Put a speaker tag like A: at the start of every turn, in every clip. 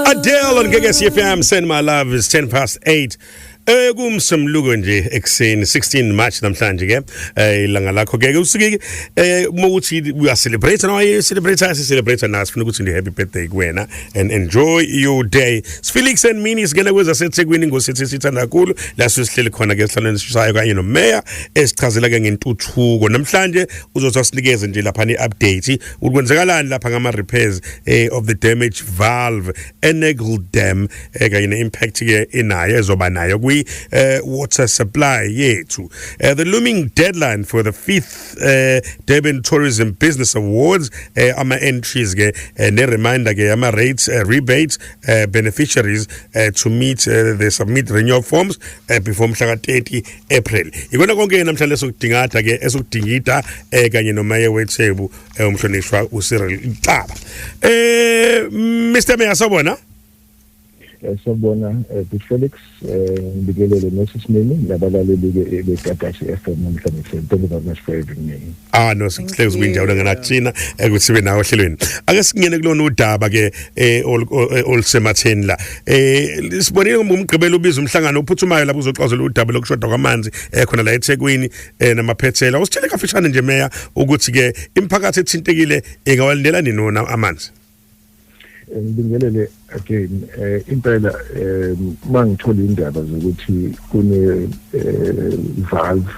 A: Adele on Gege CFM send my love is 10 past 8 ekumsemluko eh, nje ekseni 16 March namhlanje ke eh, ilanga lakho ke usike eh, uma uthi uya celebrate nawe celebrate asi celebrate nawe sifuna ukuthi ndi happy birthday kuwena and enjoy your day sifile ikuseni mini singena kwezasethekwini ngosithi sithanda kakhulu la sisihleli khona ke esihlalweni esisayo kanye nomeya esichazela ke ngentuthuko namhlanje uzothi asinikeze nje lapha ne-update ukuthi kwenzekalani lapha ngama-repairs eh, of the damage valve enegle dam eh, kanye ne-impact ke inayo ezoba nayo kwi-water eh, supply yethu uh, the looming deadline for the fifth fifth eh Durban Tourism Business Awards eh ama entries ke eh, ne reminder ke ama rates eh, rebates eh, beneficiaries eh, to meet eh, the submit renewal forms eh, before mhla ka-30 April ikona konke namhlanje esokudingatha ke esokudingida eh, kanye nomaye wethebu eh, umhlonishwa uCyril Ntaba eh Mr Mayor sawbona Eh,
B: sawubona eh, big felix eh, ngibikelele nosisimini nabalaleli-ke begatasi f m namhlanje sen thank you very much for having me ah no sihlezi
A: kwinjawulo ngenathina ukuthi sibe nawo ohlelweni ake singene kulona udaba ke olusematheni la um sibonile ngomgqibelo ubiza umhlangano ophuthumayo lapho uzoxazula udaba lokushoda kwamanzi khona la ethekwini um namaphethela usitshele kafishane nje meya ukuthi-ke imiphakathi ethintekile ingawalindela nini wona amanzi
B: ngibingelele again eh impela eh mangithola indaba zokuthi kune eh, valve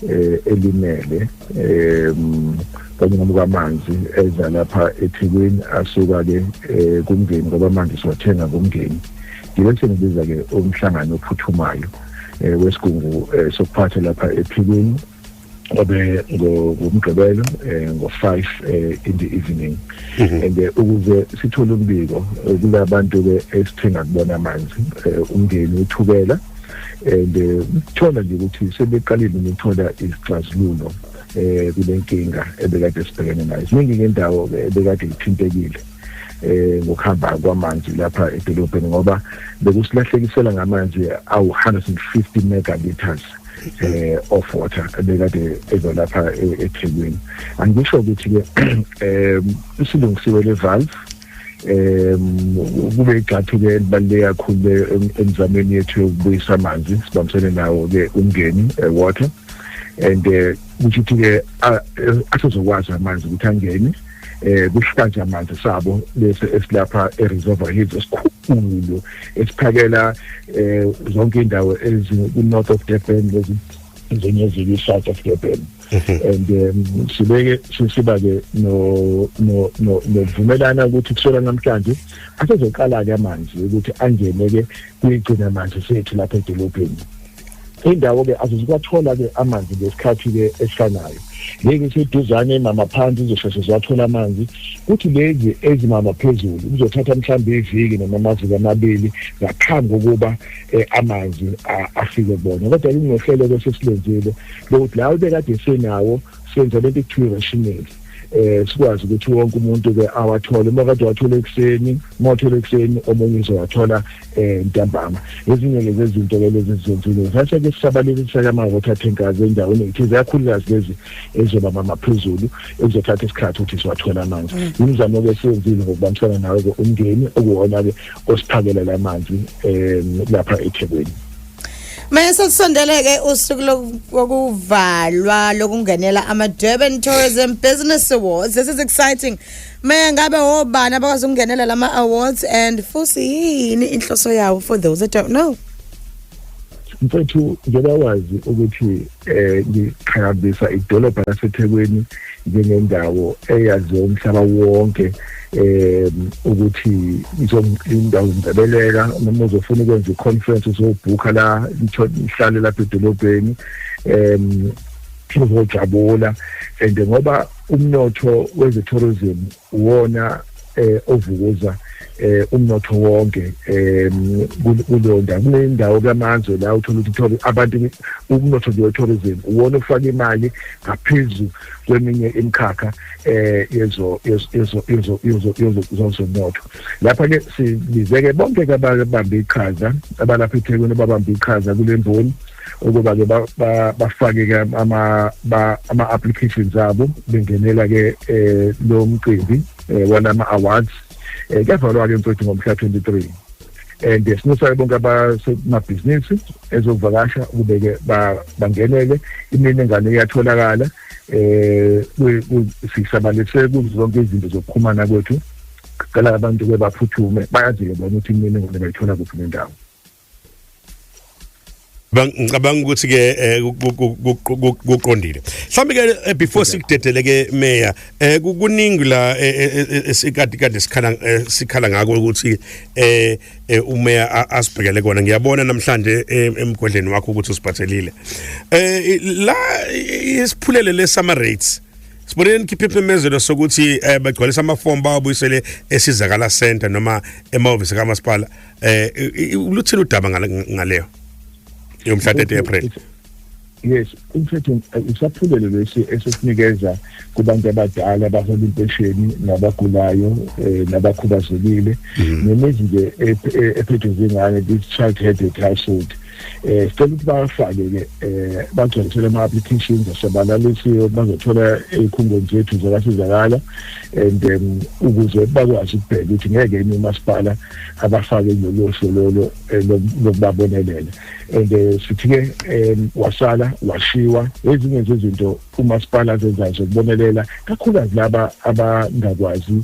B: eh elimele eh kanyama kwamanzi eza lapha eThekwini asuka ke eh, kumngeni ngoba amanzi siwathenga kumngeni ngibe sengibiza ke umhlangano ophuthumayo eh, wesigungu eh, sokuphatha lapha ephikweni kwabe ngomgqibelo eh, ngo-five eh, in the evening mhm. and eh, ukuze sithole umbiko kula bantu-ke esithenga kubona amanzi umndeni uthukela and kuthola nje ukuthi sebeqalile ukuthola izixazululo um kule nkinga ebekade sibhekene nayo ziningi ngendawo-ke ebekade ithintekile eh ngokuhamba kwamanzi lapha edolobheni ngoba bekusilahlekisela ngamanzi awu 150 megaliters eh of water ebekade ezolapha e-, eThekwini angisho ukuthi ke em isilungisiwe le valve em kube igxathu ke libaluleke kakhulu emzameni yethu yokubuyisa amanzi sibambisene nawo ke umngeni eh, water and eh ukuthi ke asizokwazi amanzi ukuthi angene eh kushikaje amanzi sabo bese esilapha eReservoir Hills esikhulu esiphakela eh zonke indawo eziku-north of Durban lezi njenye ziku-south of Durban mhm. and um, sibeke sisiba-ke nokuvumelana ukuthi kusola namhlanje asezoqala-ke amanzi ukuthi angene-ke kuyigcina manzi sethu lapha edolobheni indawo-ke azizikwathola-ke amanzi ngesikhathi-ke esifanayo lezi eseduzane mama phansi izosheshe ziwathola amanzi kuthi lezi ezimama phezulu kuzothatha mhlawumbe iviki noma amaviki amabili ngaphambi kokuba um eh, amanzi afike bona kodwa kungohlelo-ke sesilenzile lokuthi lawo bekade senawo senza lento ekuthiwa i-rationale eh sikwazi ukuthi wonke umuntu ke awathole uma kade wathola ekuseni uma wathola ekuseni omunye uzowathola eh ntambama ezinye ke zezinto ke lezi zizenzile sase ke sisabalekisa kama water tankers endaweni ukuthi ziyakhulukazi lezi ezoba mama phezulu ezothatha isikhathi ukuthi siwathola amanzi mm. imizamo ke siyenzile ngokubambisana nawe ke umndeni okuwona ke osiphakelela amanzi eh lapha eThekwini Mese
C: sisondeleke usuku lokuvalwa lokungenela ama Durban Tourism Business Awards. This is exciting. Maya ngabe obani abakwazi ukungenela lama awards and futhi yini inhloso yawo for those that don't know. Mfethu
B: njengoba wazi ukuthi eh ngiqhakambisa idolobha laseThekwini njengendawo eyaziwa umhlaba wonke eh ukuthi izondawo ngibeleka noma uzofuna ukwenza iconference uzobhukha la ihlale lapha edolobheni em uzojabula and ngoba umnotho weze tourism uwona eh ovukuza eh umnotho wonke eh kulonda kunendawo kamazwe la uthola ukuthi abantu umnotho nje tourism uwona ufaka imali ngaphezulu kweminye imikhakha eh yezo yezo yezo yezo yezo zonke lapha-ke sibize-ke bonke-ke ababambe iqhaza abalapha ethekwini ababambe iqhaza kule mboni ukuba-ke bafake-ke ama-applications abo bengenela-ke um lo mcimbi um walama-awards um kuyavalwa-ke mfethu ngomhla 23 and sinusa bonke abasemabhizinisi ezokuvakasha ukube-ke bangenele iminingane iyatholakala um sisabalise kuzo zonke izinto zokuxhumana kwethu cela
A: abantu ke baphuthume bayazile bona ukuthi imini ngone bayithola kuphi nendawo ngicabanga ukuthi ke eh, kuqondile mhlawumbe ke eh, before sikudedele ke mayor eh, kuningi la esikade kade sikhala sikhala ngako ukuthi eh umeya asibhekele kona ngiyabona namhlanje emgodleni wakho ukuthi usiphathelile eh la isiphulele le summer rates Sibonile nikhiphe imemezelo sokuthi eh bagcwalisa amafomu bawabuyisele esizakala center noma emahhovisi kamasipala eh luthini udaba ngaleyo yomhla 30 April yes
B: umthetho eh, usaphulelo lesi esesinikeza kubantu abadala abahola impesheni nabagulayo eh, nabakhubazekile mhm. nemizi nje ephethwe zingane this child headed household eh sicela ukuthi bafake ke eh bagcwalisele ama applications asebalalisiwe bazothola ezikhungweni zethu zokasizakala and um, ukuze bakwazi ukubheka ukuthi ngeke yini umasipala abafake kulolu hlolo eh, lokubabonelela and eh, sithi ke um, wasala washiwa ezinye zezinto umasipala azenzayo zokubonelela kakhulukazi laba abangakwazi